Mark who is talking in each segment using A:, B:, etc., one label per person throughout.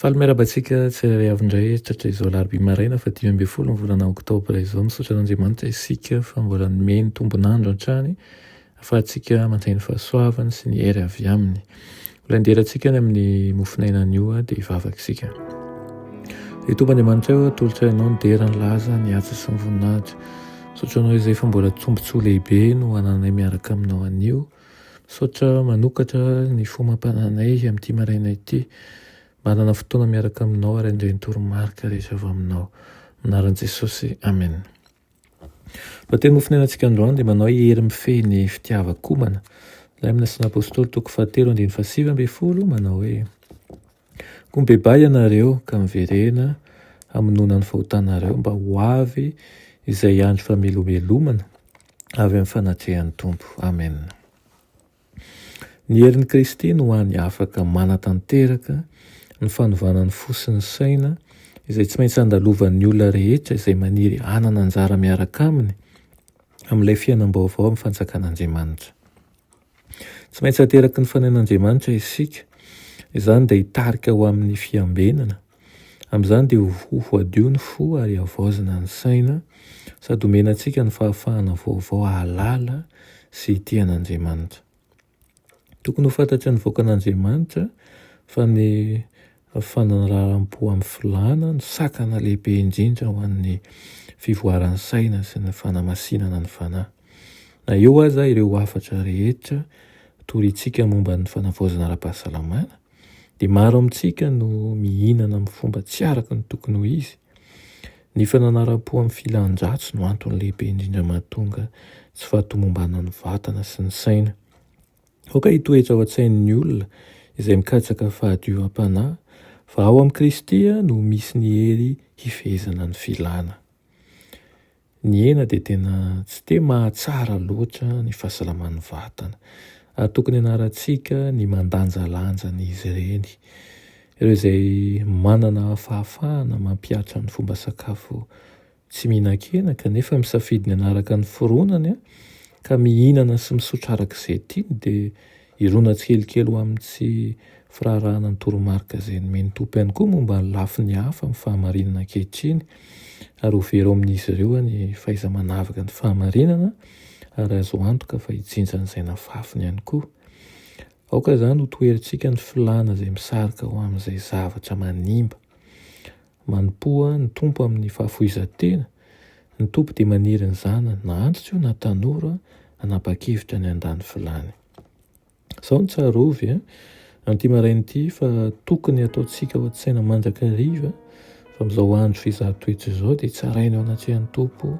A: Faly miarahaba antsika tsirairay avy indray tratra izao alarobia maraina fa dimy ambin'ny folo ny volana oktobra izao. Misaotra an'Andriamanitra isika fa mbola nomeny ny tombon'andro hatrany ahafahantsika mandray ny fahasoavany sy ny hery avy aminy. Ho lendera antsika any amin'ny mofon'ainany io dia hivavaka isika. Ry Tompo Andriamanitra eo, atolotra ianao ny dera, ny laza, ny asa sy ny voninahitra. Misaotra anao izay fa mbola tombontsoa lehibe no ananay miaraka aminao anio. Misaotra manokatra ny fo mampanana anay amin'ity maraina ity. Manana fotoana miaraka aminao ary handray ny toromarika rehetra avy aminao. Amin'ny anaran'i Jesosy, Amen. Lohateny ho fonerantsika androany dia manao hoe hery mifehy ny fitiavan-komana. Ilay amin'ny Asan'ny Apostoly toko fahatelo andininy fahasivy ambin'ny folo manao hoe. Koa mibebaha ianareo ka miverena hamonoana ny fahotanareo mba ho avy izay andro famelomelomana avy amin'ny fanatrehan'ny Tompo. Amen. Ny herin'i Kristy no hany afaka manatanteraka ny fanovana ny fo sy ny saina izay tsy maintsy andalovan'ny olona rehetra izay maniry hanana anjara miaraka aminy amin'ilay fiainam-baovao amin'ny fanjakan'Andriamanitra. Tsy maintsy ateraky ny fanahin'Andriamanitra isika. Izany dia hitarika ho amin'ny fiambenana. Amin'izany dia ho voadio ny fo ary havaozina ny saina, sady homena antsika ny fahafahana vaovao hahalala sy hitia an'Andriamanitra. Tokony ho fantatry ny vahoakan'Andriamanitra fa ny Fanaraharam-po amin'ny filàna no sakana lehibe indrindra ho an'ny fivoaran'ny saina sy ny fanamasinana ny fanahy. Na eo aza ireo hafatra rehetra torintsika momba ny fanavaozana ara-pahasalamana, dia maro amintsika no mihinana amin'ny fomba tsy araka ny tokony ho izy. Ny fananaram-po amin'ny filan-dratsy no antony lehibe indrindra mahatonga tsy fahatomombanan'ny vatana sy ny saina. Aoka hitoetra ao an-tsain'ny olona izay mikatsaka fahadiovam-panahy fa ao amin'i Kristy no misy ny hery hifehezana ny filana. Ny hena dia tena tsy dia mahatsara loatra ny fahasalaman'ny vatana ary tokony hanarantsika ny mandanjalanja an'izy ireny. Ireo izay manana fahafahana mampihatra ny fomba sakafo tsy mihinan-kena kanefa misafidy ny hanaraka ny fironany ka mihinana sy misotra araka izay tiany dia irona tsikelikely ho amin'ny tsy firaharahanan'ny toromarika izay nomen'ny Tompo ihany koa momba ny lafiny hafa amin'ny fahamarinana ankehitriny ary ho very ao amin'izy ireo ny fahaiza-manavaka ny fahamarinana ary azo antoka fa hijinjan'izay nafafiny ihany koa. Aoka izany ho toherintsika ny filana izay misarika ho amin'izay zavatra manimba. Manompoa ny Tompo amin'ny fahafoizan-tena, ny Tompo dia maniry ny zanany na antitra io na tanora hanapa-kevitra ny handany filany. Izao no tsarovy an'ity maraina ity fa tokony hataontsika ao an-tsaina mandrakariva fa amin'izao andro fizaha toetra izao dia tsaraina ao anatrehan'ny Tompo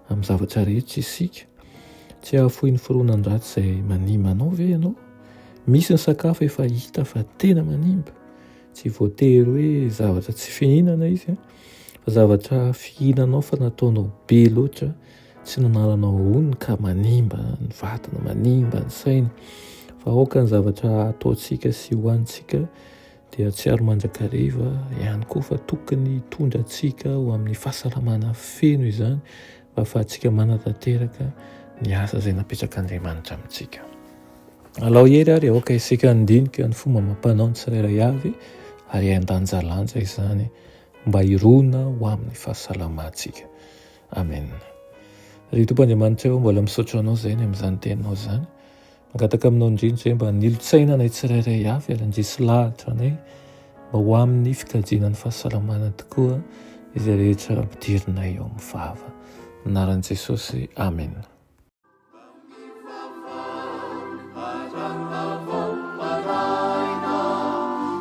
A: amin'ny zavatra rehetra isika. Tsy hahafoy ny foronan-dratsy izay manimba anao ve ianao? Misy ny sakafo efa hita fa tena manimba. Tsy voatery hoe zavatra tsy fihinana izy an, fa zavatra fihinanao fa nataonao be loatra, tsy nanaranao honiny ka manimba ny vatana, manimba ny saina, fa aoka ny zavatra ataontsika sy hohanintsika dia hahatsiaro mandrakariva ihany koa fa tokony hitondra antsika ho amin'ny fahasalamana feno izany. Ahafahantsika manatanteraka ny asa izay napetrak'Andriamanitra amintsika. Alao hery ary aoka isika handinika ny fomba amam-panao ny tsirairay avy ary handanjalanja izany mba hirona ho amin'ny fahasalamantsika. Amen. Ry Tompo Andriamanitra, mbola misaotra Anao izay ny amin'izany teninao izany. Mangataka aminao indrindra izay mba nilotsaina anay tsirairay avy ary handresy lahatra anay mba ho amin'ny fikajiana ny fahasalamana tokoa izay rehetra ampidirinay ao amin'ny vava. Anaran'i Jesosy, amena.